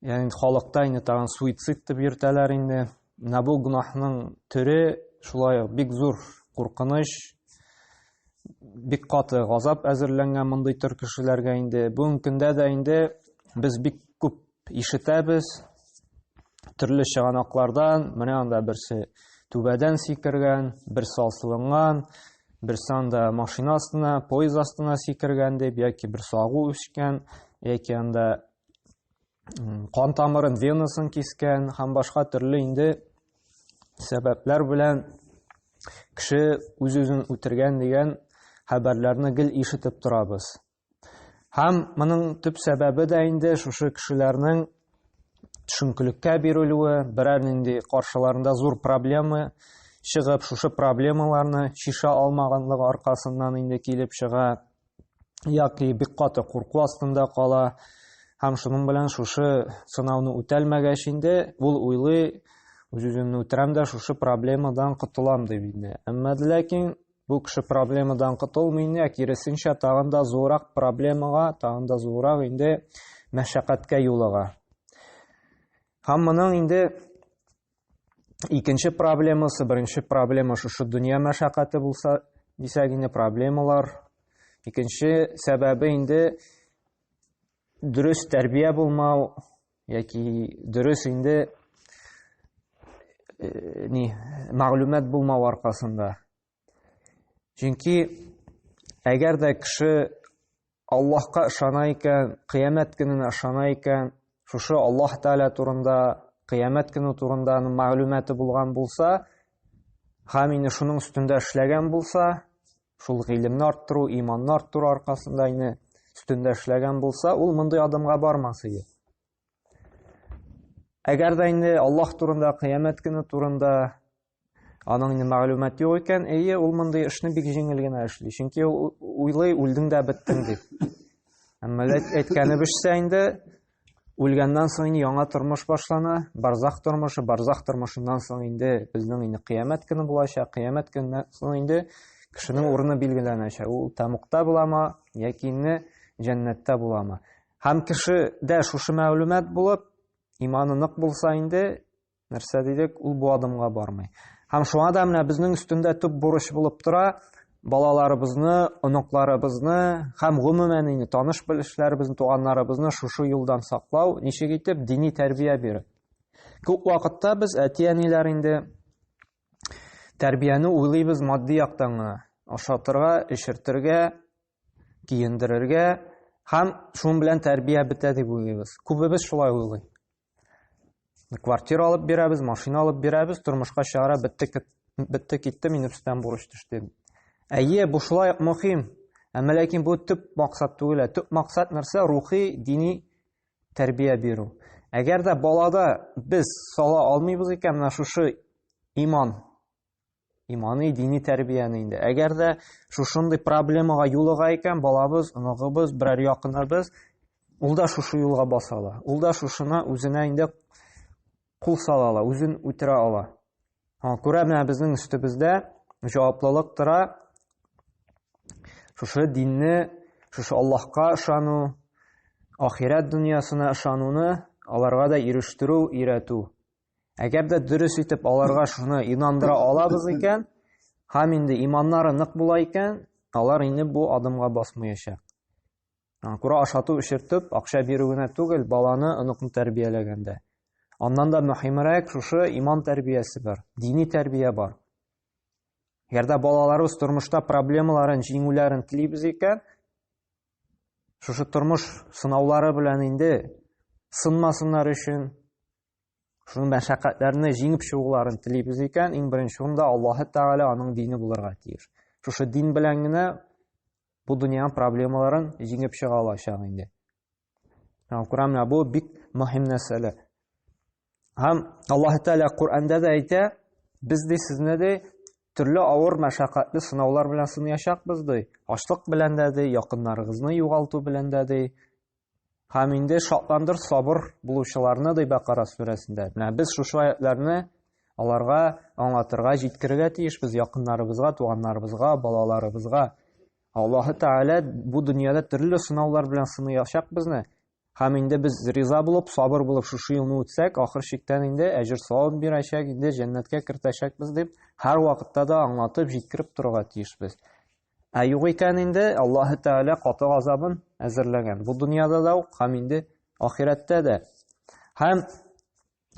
Янин халыкта инде тагын суицид дип йөртәләр инде. Менә бу гөнаһның төре шулай ук бик зур куркыныч, бик каты газап әзерләнгән мондый төр кешеләргә инде. Бүгенге көндә дә инде без бик күп ишетәбез төрле чыганаклардан, менә анда берсе түбәдән сикергән, берсе асылынган, берсе анда машина астына, поезд астына сикергән дип, яки берсе агу үскән, яки анда кан тамырын венасын кискән һәм башка төрле инде сәбәпләр белән кеше үз үзен үтергән дигән хәбәрләрне гел ишетеп торабыз һәм моның төп сәбәбе дә инде шушы кешеләрнең төшенкелеккә бирелүе берәр нинди каршыларында зур проблема чыгып шушы проблемаларны шиша алмаганлыгы аркасыннан инде килеп чыга яки бик каты курку астында кала һәм шуның белән шушы сынауны үтәлмәгәч инде ул уйлый үз үземне үтерәм дә шушы проблемадан котылам дип инде әмма ләкин бу кеше проблемадан котылмый инде ә киресенчә тагын да зуррак проблемага тагын да зуррак инде мәшәкатькә юлыга һәм моның инде икенче проблемасы, беренче проблема шушы дөнья мәшәкате булса, дисәк инде проблемалар. Икенче сәбәбе инде дөрес тәрбия булмау яки дөрес инде э, ни мәгълүмат булмау аркасында Чөнки әгәр дә кеше Аллаһка ышана икән, кыямәт көненә ышана икән, шушы Аллаһ Тәгалә турында, кыямәт көне турында аның мәгълүматы булган булса, һәм инде шуның өстендә эшләгән булса, шул гыйлемне арттыру, иманны арттыру аркасында инде өстендә эшләгән булса, ул мондый адымга бармас иде. Әгәр дә инде Аллаһ турында, кыямәт көне турында Аның инде мәгълүмат юк икән, әйе, ул мондый эшне бик җиңел генә эшли. Чөнки ул уйлый, үлдең дә беттең дип. Әмма әйткәне бешсә инде, үлгәннән соң инде яңа тормыш башлана, барзах тормышы, барзах тормышыннан соң инде безнең инде кыямәт көне булачак, кыямәт көненнән соң инде кешенең урыны билгеләнәчәк. Ул тамукта буламы, яки инде җәннәттә буламы? Һәм кешедә шушы мәгълүмат булып, иманы нык булса инде, Нәрсә дидек, ул бу адымга бармый. Һәм шуңа да менә безнең өстендә төп бурыч булып тора, балаларыбызны, оныкларыбызны һәм гомумән инде таныш белешләребезне, туганнарыбызны шушы юлдан саклау, ничек итеп дини тәрбия биреп. Күп вакытта без әти-әниләр инде тәрбияне уйлыйбыз матди яктан гына. Ашатырга, эчертергә, киендерергә һәм шуның белән тәрбия бетә дип уйлыйбыз. Күбебез шулай уйлый. квартира алып бирәбез машина алып бирәбез тормышка чыгара бетте бетте китте мин өстән бурыч төште әйе бу шулай ук мөһим әмма ләкин бу төп максат түгел ә төп максат нәрсә рухи дини тәрбия бирү әгәр дә балада без сала алмыйбыз икән менә шушы иман иманы дини тәрбияне инде әгәр дә шушындый проблемага юлыга икән балабыз оныгыбыз берәр якыныбыз ул да шушы юлга баса ала ул да шушына үзенә инде кул сала ала үзен үтерә ала күрә менә безнең өстебездә җаваплылык тора шушы динне шушы аллаһка ышану ахирәт дөньясына ышануны аларга да ирештерү өйрәтү Әгәр дә дөрес итеп аларга шуны инандыра алабыз икән, һәм инде иманнары нык була икән, алар инде бу адымга басмаячак. Күрә ашату эшертеп, акча бирү генә түгел, баланы, оныкны тәрбияләгәндә. Аннан да мөһимрәк шушы иман тәрбиясе бар, дини тәрбия бар. Әгәр дә балаларыбыз тормышта проблемаларын җиңүләрен телибез икән, шушы тормыш сынаулары белән инде сынмасыннар өчен, Шуның мәшәкатьләрне җиңеп чыгуларын телибез икән, иң беренче урында Аллаһы Тәгалә аның дине булырга тиеш. Шушы дин белән генә бу дөньяның проблемаларын җиңеп чыга алачак инде. Һәм Коран менә бу бик мөһим нәрсәләр. Һәм Аллаһ Тәгалә Коранда да әйтә, без ди сезне ди төрле авыр мәшәкатьле сынаулар белән сынаячакбыз ди. Ачлык белән дә ди, якыннарыгызны югалту белән дә ди, Һәм инде шатландыр сабыр булучыларны ди Бакара сүрәсендә. Менә без шушы аятларны аларга аңлатырга, җиткерергә тиешбез якыннарыбызга, туганнарыбызга, балаларыбызга. Аллаһы Тәгалә бу дөньяда төрле сынаулар белән сыныячак безне. Һәм инде без риза булып, сабыр булып шушы елны үтсәк, ахыр чиктән инде әҗер савап бирәчәк, инде җәннәткә кертәчәкбез дип, һәр вакытта да аңлатып, җиткереп торырга тиешбез. Ә юк икән инде Аллаһ Тәгалә каты газабын әзерләгән. Бу дөньяда да ук һәм инде ахирәттә дә. Һәм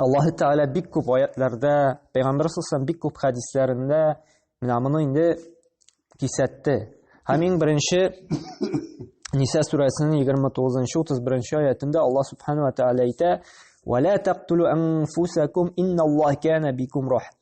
Аллаһ Тәгалә бик күп аятларда, Пәйгамбәр сусам бик күп хәдисләрендә менә моны инде кисәтте. Һәм иң беренче Ниса сүрәсенең 29-31 аятында Аллаһ Субхану ва Тәгалә әйтә: "Ва ла тактулу анфусакум инналлаһ кана бикум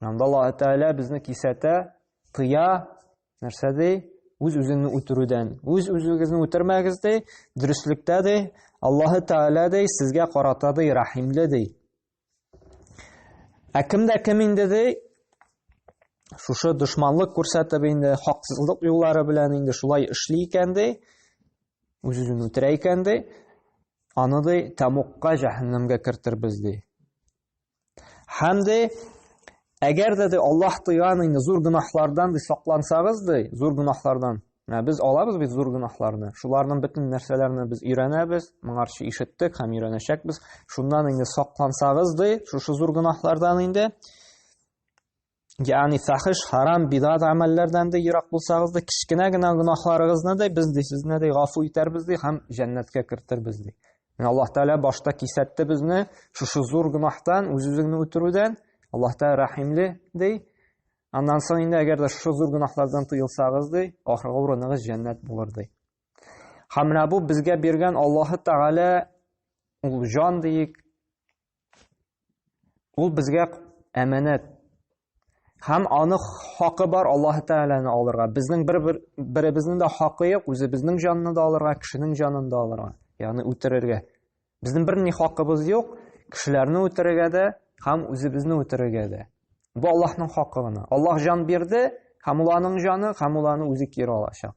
Анда Аллаһ Тәгалә безне кисәтә, тыя, нәрсә ди? Үз-үзеңне үтерүдән. Үз-үзегезне үтермәгез ди, дөреслектә ди, Аллаһ Тәгалә ди, сезгә карата ди, рәхимле ди. Ә кемдә кем инде ди? Шушы дошманлык күрсәтеп инде, хаксызлык юллары белән инде шулай эшли икән ди, үз-үзен үтерә икән ди, аны ди, тәмукка, җәһәннәмгә кертербез ди. Һәм дә әгәр дә Аллаһ тыйган инде зур гөнаһлардан ди саклансагыз ди, зур гөнаһлардан. Ә без алабыз бит зур гөнаһларны. Шуларның бөтен нәрсәләрне без өйрәнәбез, моңарчы ишеттек һәм өйрәнәчәкбез. Шуннан инде саклансагыз ди, шушы зур гөнаһлардан инде. Ягъни фахиш, харам, бидат амәлләрдән дә ерак булсагыз да, кечкенә генә гөнаһларыгызны да без ди сезне дә гафу итәрбез ди һәм җәннәткә кертербез ди. Менә Аллаһ Тәгалә башта кисәтте безне шушы зур гөнаһтан, үз-үзеңне үтерүдән. Аллаһ Тәгалә рәхимле ди. Аннан соң инде әгәр дә шушы зур гөнаһлардан тыелсагыз ди, ахыргы урыныгыз җәннәт булыр ди. Һәм менә бу безгә биргән Аллаһ Тәгалә ул җан диик, Ул безгә әмәнәт. Һәм аны хакы бар Аллаһ Тәгаләне алырга. Безнең бер беребезнең дә хакы юк, үзебезнең җанны да алырга, кешенең җанын да алырга, ягъни үтерергә. Безнең бер ни хакыбыз юк, кешеләрне үтерергә дә һәм үзебезне үтерергә дә. Бу Аллаһның хакы гына. Аллаһ җан бирде, һәм ул аның җаны, һәм ул аны үзе кире алачак.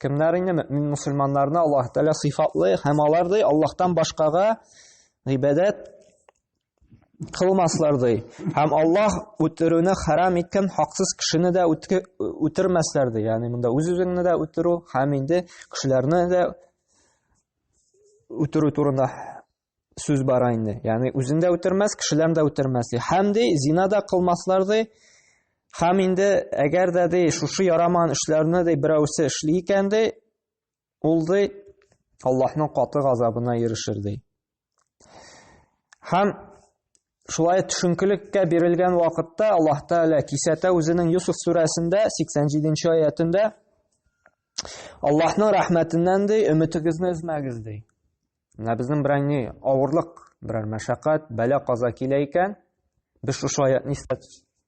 Кемнәр инде мөмин мусульманнарны Аллаһ Тәгалә сыйфатлый һәм алар ди Аллаһтан башкага гыйбадәт кылмаслар ди. Һәм Аллаһ үтерүне харам иткән хаксыз кешене дә үтермәсләр ди. Ягъни монда үз-үзеңне дә үтерү һәм инде кешеләрне дә үтерү турында сүз бара инде. Ягъни үзен дә үтермәс, кешеләрне дә үтермәс ди. Һәм ди, зина да кылмаслар ди. Һәм инде әгәр дә ди, шушы ярамаган эшләрне ди берәүсе эшли икән ди, ул ди Аллаһның каты газабына ирешер ди. Һәм шулай төшенкелеккә бирелгән вакытта Аллаһ Тәгалә кисәтә үзенең Юсуф сүрәсендә 87-нче аятында Аллаһның рәхмәтеннән ди, өметегезне өзмәгез ди. Менә безнең берәр ни авырлык, берәр мәшәкать, бәлә каза килә икән, без шушы аятны истә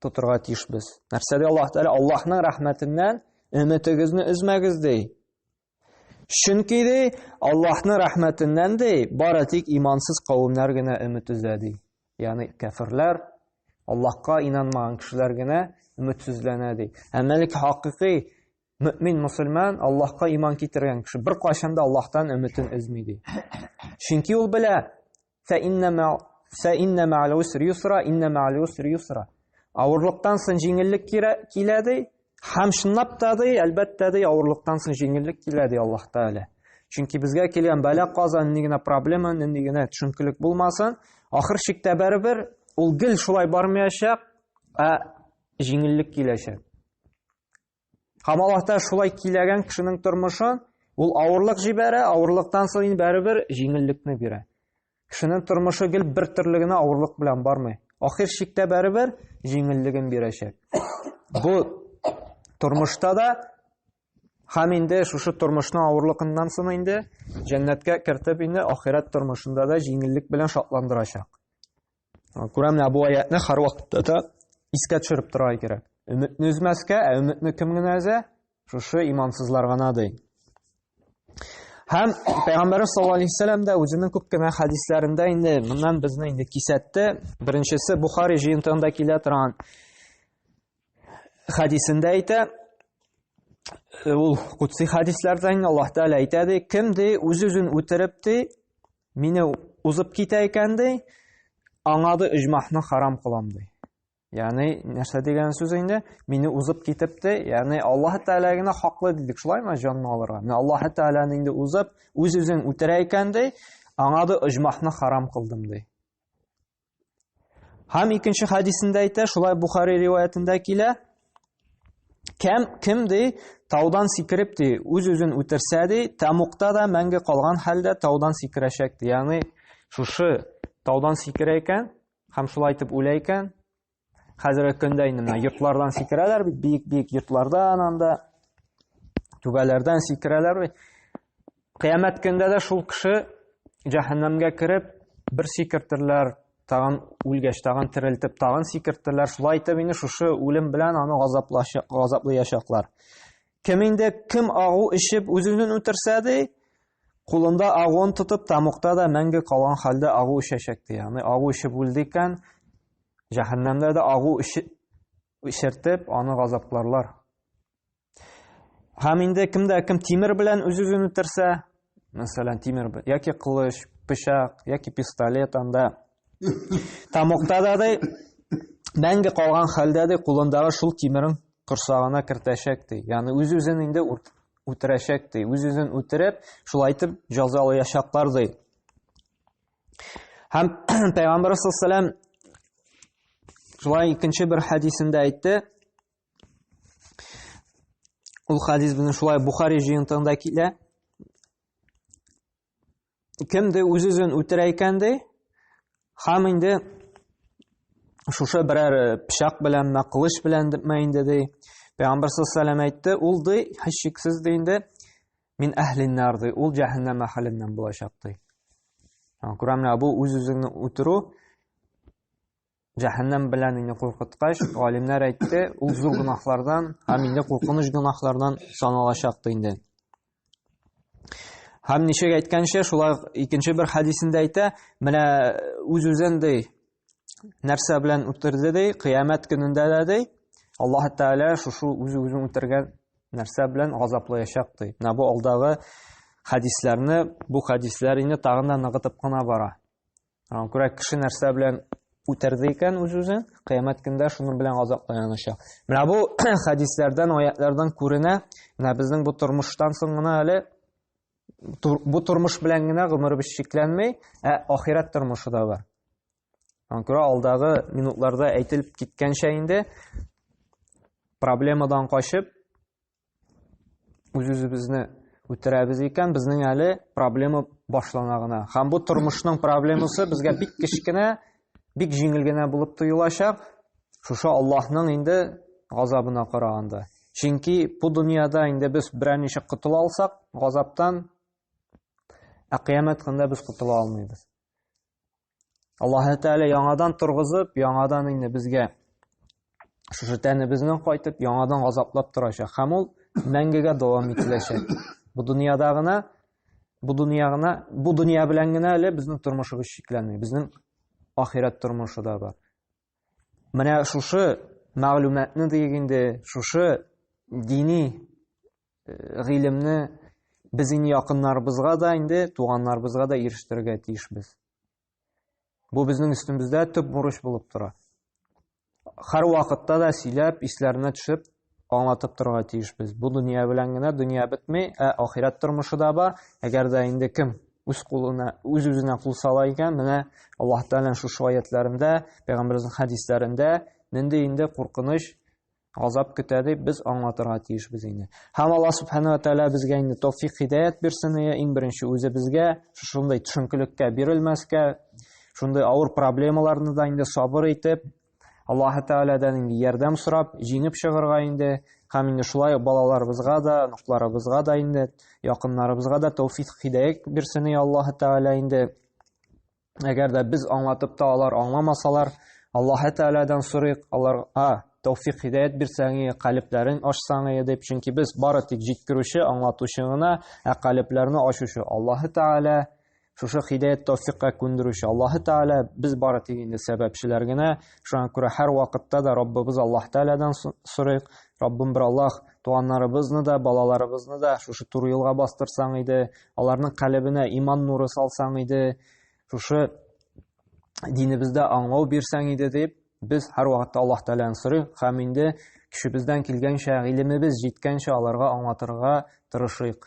тотырга тиешбез. Нәрсә ди Аллаһ Тәгалә? Аллаһның рәхмәтеннән өметегезне өзмәгез ди. Чөнки ди, Аллаһның рәхмәтеннән ди, бары тик имансыз кавемнәр генә өмет өзә ди. Ягъни кәфирләр, Аллаһка инанмаган кешеләр генә өметсезләнә ди. Әмма лек хакыйкый Мөэмин мөселман, Аллаһка иман китергән кеше беркайчан да Аллаһтан өметен өзми ди. Чөнки ул белә, фә инна мал уср юсра, инна мал уср юсра. Авырлыктан соң җиңеллек килә ди. Һәм чынлап та ди, әлбәттә ди, авырлыктан соң җиңеллек килә ди Аллаһ Тәгалә. Чөнки безгә килгән бәла каза нинди генә проблема, нинди генә төшенкелек булмасын, ахыр чиктә барыбер ул гел шулай бармаячак, ә җиңеллек киләчәк. Һәм Аллаһ Тәгалә шулай киләгән кешенең тормышын ул авырлык җибәрә, авырлыктан соң инде бәребер җиңеллекне бирә. Кешенең тормышы гел бер төрле генә авырлык белән бармый. Ахир чиктә бәребер җиңеллеген бирәчәк. Бу тормышта да һәм инде шушы тормышның авырлыгыннан соң инде җәннәткә кертеп инде ахирәт тормышында да җиңеллек белән шатландырачак. Күрәм, менә бу аятны һәрвакытта да искә төшереп торырга кирәк. Өметне өзмәскә, ә өметне кем генә өзә? Шушы имансызлар гына ди. Һәм Пәйгамбәр саллаллаһу алейһи вәсәлләм дә үзенең күп кенә хәдисләрендә инде моннан безне инде кисәтте. Беренчесе Бухари җыентыгында килә торган хәдисендә әйтә, ул кутси хәдисләрдән Аллаһ Тәгалә әйтә ди, кем ди үз-үзен үтереп ди, Мине узып китә икән ди, аңа да иҗмахны харам кылам ди. Ягъни нәрсә дигән сүз инде? Мине узып китеп ди, ягъни Аллаһ Тәгалә генә хаклы дидек, шулаймы җанны алырга? Менә Аллаһ Тәгаләне инде узып, үз-үзен үтерә икән ди, аңа да иҗмахны харам кылдым ди. Һәм икенче хадисендә әйтә, шулай Бухари риваятендә килә, кем кем ди, таудан сикереп ди, үз-үзен үтерсә ди, тәмуктә дә мәңге калган хәлдә таудан сикерәчәк ди. Ягъни шушы таудан сикерә икән һәм шулай итеп үлә икән, Хәзерге көндә инде менә йортлардан сикерәләр бит, биек-биек йортлардан анда түбәләрдән сикерәләр бит. Кыямәт көндә дә шул кеше җәһәннәмгә кереп, бер сикертерләр, тагын үлгәч, тагын терелтеп, тагын сикертерләр. Шулай итеп инде шушы үлем белән аны газаплаячаклар. Кем инде кем агу эчеп үзенен үтерсә ди, кулында агуын тотып, тамукта да мәңге калган хәлдә агу эчәчәк ди. Аны агу эчеп үлде икән, Җәһәннәмдә дә агу эчертеп, аны газапларлар. Һәм инде кемдә кем тимер белән үз-үзен үтерсә, мәсәлән, тимер яки кылыч, пычак яки пистолет анда тамокта да ди, мәңге калган хәлдә ди, кулындагы шул тимерен корсагына кертәчәк ди. Ягъни үз-үзен инде үтерәчәк ди. Үз-үзен үтереп, шулайтып җәзалаячаклар ди. Һәм Пәйгамбәр саллаллаху шулай икенче бер хәдисендә әйтте. Ул хәдис безнең шулай Бухари җыентыгында килә. Кемде үз-үзен үтерә икән ди, һәм инде шушы берәр э, пычак белән мә кылыч белән мәйинде ди пәйгамбар саллаллаху әйтте ул ди һичшиксез ди инде Мин әһлин нар ди, ул җәһәннәм әһленнән булачак ди. Күрәмнәр, бу үз-үзеңне үтерү җәһәннәм белән инде куркыткач, галимнәр әйтте, ул зур гөнаһлардан һәм инде куркыныч гөнаһлардан саналачак инде. Һәм ничек әйткәнчә, шулай икенче бер хәдисендә әйтә, менә үз-үзен ди, нәрсә белән үтерде ди кыямәт көнендә дә ди аллаһ тәгалә шушы үзе үзен үтергән нәрсә белән газаплаячак ди менә бу алдагы хәдисләрне бу хәдисләр инде тагын да ныгытып кына бара күрә кеше нәрсә белән үтерде икән үз үзен кыямәт көндә шуның белән газапланачак менә бу хәдисләрдән аятлардан күренә менә безнең бу тормыштан соң гына әле бу тормыш белән генә гомеребез чикләнми, ә ахирәт тормышы да бар. Аңа күрә алдагы минутларда әйтелеп киткәнчә инде проблемадан качып үз-үзебезне үтерәбез икән, безнең әле проблема башлана гына. Һәм бу тормышның проблемасы безгә бик кечкенә Бик җиңел генә булып тоелачак, шушы Аллаһның инде газабына караганда. Чөнки бу дөньяда инде без берәр ничек котыла алсак, газаптан, ә кыямәт көнендә без котыла алмыйбыз. Аллаһ Тәгалә яңадан торгызып, яңадан инде безгә шушы тәнебезнең кайтып яңадан газаплап торачак һәм ул мәңгегә дәвам ителәчәк бу дөньяда гына бу дөнья гына бу дөнья белән генә әле безнең тормышыбыз чикләнми безнең ахирәт тормышы да бар менә шушы мәгълүматны диек инде шушы дини э, гыйлемне без инде якыннарыбызга да инде туганнарыбызга да ирештерергә тиешбез Бу безнең өстемездә төп бурыч булып тора. Хәр вакытта да сөйләп, исләренә төшеп, аңлатып торырга тиешбез. Бу дөнья белән генә дөнья бетми, ә ахирәт тормышы да бар. Әгәр дә инде кем үз кулына, үз үзенә кул сала икән, менә Аллаһ Тәгалә шушы аятларында, пәйгамбәрнең хәдисләрендә нинди инде куркыныч Азап көтә дип без аңлатырга тиешбез инде. Һәм Алла субхана ва тәгалә безгә инде тәүфик хидәят бирсен, иә, иң беренче үзебезгә шушындай төшенкелеккә бирелмәскә, шундый авыр проблемаларны да инде сабыр итеп, Аллаһ Тәгаләдән инде ярдәм сорап, җиңеп чыгарга инде, һәм инде шулай балаларыбызга да, оныкларыбызга да инде, якыннарыбызга да тәүфик хидәят бирсен, иә, Аллаһ Тәгалә инде. Әгәр дә без аңлатып та алар аңламасалар, Аллаһ Тәгаләдән сорыйк, аларга тәүфик хидәят бирсәң, калебләрен ачсаң дип, чөнки без бары тик җиткерүче, аңлатучы гына, ә калебләрне ачучы Аллаһ Тәгалә. Шушы хидәят тәүфикка күндерүче Аллаһ Тәгалә, без бары тик инде сәбәпчеләр генә. Шуңа күрә һәр вакытта да Раббыбыз Аллаһ Тәгаләдән сорыйк. Раббым бер Аллаһ, туганнарыбызны да, балаларыбызны да шушы туры юлга бастырсаң иде, аларның калебенә иман нуры салсаң иде, шушы динебездә аңлау бирсәң иде дип, без һәрвакытта Аллаһ Тәгаләне сорыйк һәм инде кешебездән килгәнчә, гыйлемебез җиткәнчә аларга аңлатырга тырышыйк.